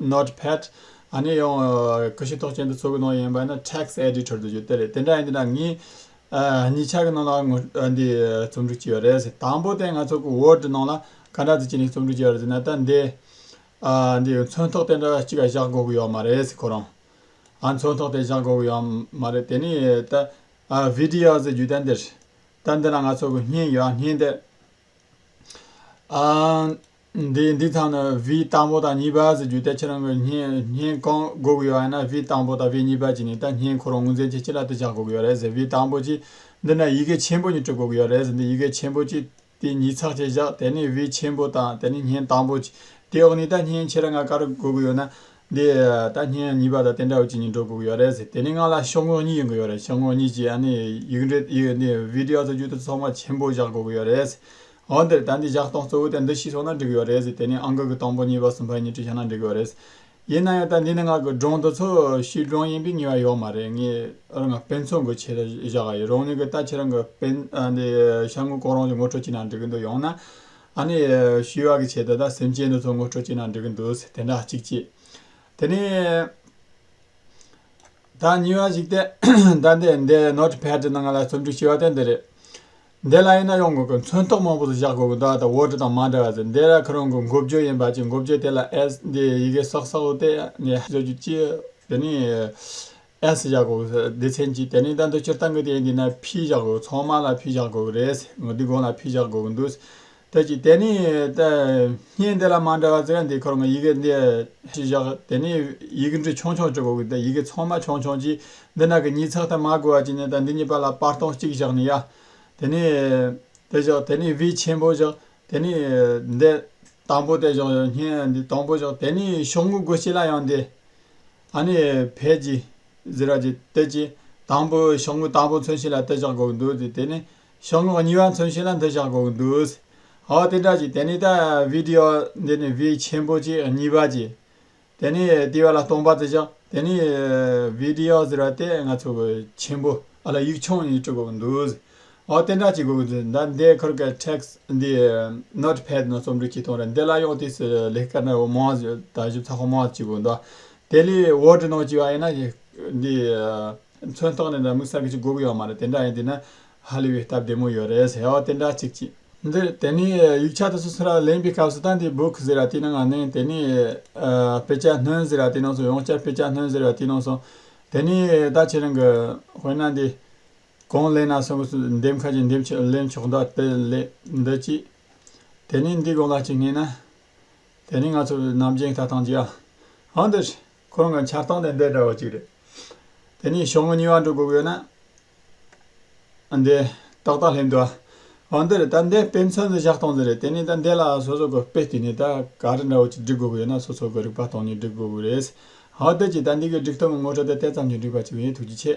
Notepad། གནས་ཡོང། ཀུ་ཤུ་ཐོག་ཅན་དུ་ཚུར་གི་ནང་ཡིན་པ་ནི Text Editor དུ་བརྗོད་དེ་རེད། དེ་འདྲ་ཡིན་དེ་འདྲ་ངས། ཉིས་ཆ་གི་ནང་ལ་ངོ། འདི། རྩོམ་སྒྲིག་བྱས་ཡོད་རེད། དང་པོ་དེ་ང་ཚོ་གི Word ནང་ལ། ག་འདྲ་དུ་བྱས་ནས་རྩོམ་སྒྲིག་བྱས་ཡོད་རེད་ཟེར་ན་ད་འདི། འདི་མཚོན་ཐོག་དེ་འདྲ་གཅིག་བཞག་དགོས་གི་ཡོད་མ་རེད་ཁོ་རང། མཚོན་ཐོག་དེ་བཞག་དགོས་གི་ཡོད་མ་རེད་དེ་ནི་ད། Videos ཟེར་རྒྱུ་ད་འདིར། ད་འདི་ན་ང་ཚོ་གི་བརྙན་ཡོད་བརྙན་དེ། འདི་དག་ནི་བི་དང་པོ་དང་གཉིས་པ་ཟེར་རྒྱུ་དེ་ཁྱེད་རང་གིས་བསྙེན་གང་དགོས་ཀྱི་ཡོད་ཨ་ན་བི་དང་པོ་དང་བི་གཉིས་པ་གཅིག་ནི་ད་བསྙེན་ཁོ་རང་ངོས་འཛིན་གྱིས་ཅི་ལ་དེ་བཞག་དགོས་ཀྱི་ཡོད་རེད་ཟེར་བི་དང་པོ་གཅིག་འདི་ནས་ཡི་གེ་ཆེན་པོ་གཉིས་སྤྲོད་དགོས་ཀྱི་ཡོད་རེད་ཟེར་འདི་ཡི་གེ་ཆེན་པོ་གཅིག་དེ་ཉིས་ཚགས་བཅས་བཞག་དེ་ནི་བི་ཆེན་པོ་དང་དེ་ནི་བསྙེན་དང་པོ་གཅིག་དེ་འོག་ནས་ད་བསྙེན་ཁྱེད་རང་ང་ག་རེ་དགོས་ཀྱི་ཡོད་ན་འདི་ད་སྙན་གཉིས་པ་དང་དེ་འདྲ་བོ་གཅིག་གཉིས་འགྲོ་དགོས་ཀྱི་ཡོད་རེད་ཟེར་དེ་ནས་ང་ལ་ཤོག་ངོས་གཉིས་ཡོང་གི་ཡོད་རེད་ཤོག་ངོས་གཉིས་ཀྱིས་ཡིག་འབྲི་འདི་བི་དེ་ཡོ་གཙོ་རྒྱུག་ཏུ་ཚོགས་མ་ཆེན་པོ་བཞག་དགོས་ཀྱི་ཡོད་རེད་ཟེར་འོན་ཏེ་ད་འདི་བཞག་སྟངས་གཙོ་བོ་དེ་འདི་ཤིས་སོང་ན་འགྲིག་གི་ཡོད་རེད་ཟེར་དེ་ནས་ཨང་ཀི་གི་དང་པོ་གཉིས་པ་གསུམ་པ་གཉིས་བྲིས་ཤག་ན་འགྲིག་གི་ཡོད་རེད་ཟེར་ཡིན་ན་ཡང་ད་འདི་ནི་ང་གི་སྒྲུང་དེ་ཚོ་ཤིས་སྒྲུང་ཡིན་པའི་ངེས་པ་ཡོད་མ་རེད་ངས་རང་གི་དཔེ་མཚོན་གྱི་ཆེད་དུ་བཞག་གི་ཡིན་རང་ཉིད་ཀྱི་ལྟ་ཆེད་རང་གི་དཔེ་འདི་ཤར་ངོས་གོང་རང་གི་ངོ་སྤྲོད་ཅིག་ན་འགྲིག་གི་འདུག་ཡང་ན། ཨ་ནི། ཤི་བ་གི་ཆེད་དུ་ད་སེམས་ཅན་དེ་ཚོ་ངོ་སྤྲོད་བྱེད་ན་འགྲིག་གི་འདུག་ཟེར་དེ་འདྲ་གཅིག་གཅིག། དེ་ནས། ད་ཉེ་བ་ཞིག་སྟེ། ད་འདི་འདི་ནོར་ཕེད་དེ་ནང་ང་ལ་རྩོམ་སྒྲིག་བྱས་པ་དེ་འདི་རེད། འདི་ལ་ཡིན་ན་ཡོང་དགོས་ཀི་མཚོན་རྟོག་མང་པོ་ཟིག་བཞག་དགོས་ཀི་འདུག་ཨ་ད་འོ་དྲི་དང་མ་འདྲ་བ་ཟེར་འདི་ར་ཁི་རང་གི་མགོ་བརྗོད་ཡིན་པ་ཅིག་མགོ་བརྗོད་དེ་ལ་ཨེས་འདི་ཡི་གེ་སོག་སོག་ལོ་སྟེ་ངས་བཟོ་རྒྱུ་ཅི། དེ་ནས། ཨེ་སི་བཞག་དགོས་གི་སྡེ་ཚན་གྱིས་དེ་རིང་ད་འདོད་ཕྱིར་བཏང་གི་དེ་འདི་ན་ཕིས་བཞག་དགོས་ཚོང་དམག་ལ་ཕིས་བཞག་དགོས་གི་རེད་ཟེར་ངོ་འདི་དགོང་ལ་ཕིས་བཞག་དགོས་གི་འདུག་ཟེར་གྱིས་དེ་ནི་བརྙན་འདི་ལ་མ་འདྲ་བ་རྩི་ཡ་འདི་ཁོར་ངོ་ཡི་གེ་འདི་ཕིས་བཞག་དེ་ནི་ཡི་གེ་འབྲི་ཆོང་ཆོང་བྱེད་དགོས་གི་འདུག་ཡི་གེ་ཚོང་དམག་ཆོང་ཆོང་གྱིས་འདི་ན་གི་ཉིས་ཚགས་ད་མ་དགོས་བ་གྱིས་ནི་ད་འདི་གཉིས་པ་ལ་པར་སྟོང་གཅིག་བཞག་ནི་ཡ། དེ་ནི་དེ་བཞག་དེ་ནི་བི་ཆེན་པོ་བཞག་དེ་ནི་འདི་དང་པོ་དེ་བཞག་བརྙན་འདི་དང་པོ་བཞག་དེ་ནི་ཤོག་ངོས་དགོས་ཁྱེད་ལ་ཡང་འདི། ཨ་ནི་བས་ཀྱི། ཛི་ར་ཀྱི་སྟེ་ཀྱི། དང་པོའི་ཤོག་ངོས་དང་པོ་མཚོན་བྱེད་ལ་ཏེ་ཞག་གོ་གི་འདུག་སྟེ་དེ་ནི། ཤོག་ངོས་གཉིས་པ་མཚོན་བྱེད་ལ་འདི་ཞག་གོ་གི་འདུག། ཧོ་དེ་འདྲ་ཀྱི་དེ་ནི་ད་བི་དེ་ཡོ། འདི་ནི་བི་ཆེན་པོ་ཀྱི་གཉིས་པ་ཀྱི། དེ་ནི་དེ་བ་ལ་སྟོང་པ་ཏེ་ཞག་དེ་ནི། བི་དེ་ཡོ་ཛི་ར་ཏེ་ང་ཚོ་གི་ཆེན་པོ་ཨ་ལ་ཡིག་ཆུང་གཉིས་བྲི་གོ་གི་འདུག། ཨོ་དེ་འདྲ་ཅིག་དགོས་གི་འདུག་ཟླ་འདིའི་ཁུར་གི text འདི Note Pad ནང་རྩོམ་སྒྲིག་བྱེད་སྟངས་རེད་འདི་ལ་ཡང་དུས་སུ་ལེགས་སྐལ་ནི་མང་ད་གཞུང་ཚགས་ཁང་མང་ཅིག་དགོས་འདུག་དེ་ལས Word ནང་བཅུག་ཡ་ཡིན་ན་འདི་མཚོན་རྟགས་ནི་འདྲ་མིན་གསར་འགོད་ཅིག་དགོས་གི་ཡོད་མ་རེད་དེ་འདྲ་ཡིན་དུས་ན་ཧ་ལས་པའི་སྟབས་བདེ་མོ་ཡོད་རེད་ཨོ་དེ་འདྲ་ཅིག་ཅིག། འདིར་དེ་ནས་ཡིག་ཆ་དེ་ཚོ་ཚུར་ལ་ལེན་པའི་སྐབས་སུ་ད་འདི Book ཟེར་བ་དེའི་ནང་ང་ནིང་དེ་ནས་དཔེ་ཆ་སྣོན་ཟེར་བ་དེའི་ནང་སོང་ཡང་བསྐྱར་དཔེ་ཆ་སྣོན་ཟེར་བ་དེའི་ནང་སོང་དེ་ནས་ད་ཁྱེད་རང་གི་དཔེར་ན་འདི་གང་གླེང་ན་སོང་གསུ་འདེབས་ཁ་ཅིག་འདེབས་ཆོག་གླེང་ཆོག་མདའ་དཔེ་ལེགས་འདི་ཅི། དེ་ནས་འདི་གང་ལ་ཅིག་ངེས་ན། དེ་ནི་ང་ཚོ་རྣམ་རྒྱལ་ཁ་ཐང་ཅིག་ཨ། ཨ་འདི་ཞིག་ཁོང་གི་འཆར་སྟངས་དེ་འདྲ་འདྲ་བ་ཅིག་རེད། དེ་ནས་ཞོགས་ངུ་ཉི་བ་འགྲོ་དགོས་དགོས་ན། ཨ་འདི་ཏག་ཏག་སླེབས་འདུག་ཨ། ཨ་འདི་རེད་ད་འདི་དཔེ་མཚོན་དུ་བཞག་སྟངས་འདི་རེད་དེ་ནས་ད་འདི་ལ་སོ་སོ་གི་དཔེ་བསྟུན་ནས་ད་ག་རེ་འདྲ་བོ་ཅིག་འབྲི་དགོས་ཀྱི་ཡོད་ན་སོ་སོ་གི་རིག་པ་སྟོང་ནས་འབྲི་དགོས་ཀྱི་རེད། ཨ་འདི་ཅིག་ད་འདི་གི་འབྲི་སྟངས་ངོ་སྤྲོད་དེ་དེ་ཙམ་གྱིས་འགྲིག་པ་ཅིག་ཡིན་ཐུགས་རྗེ་ཆེ།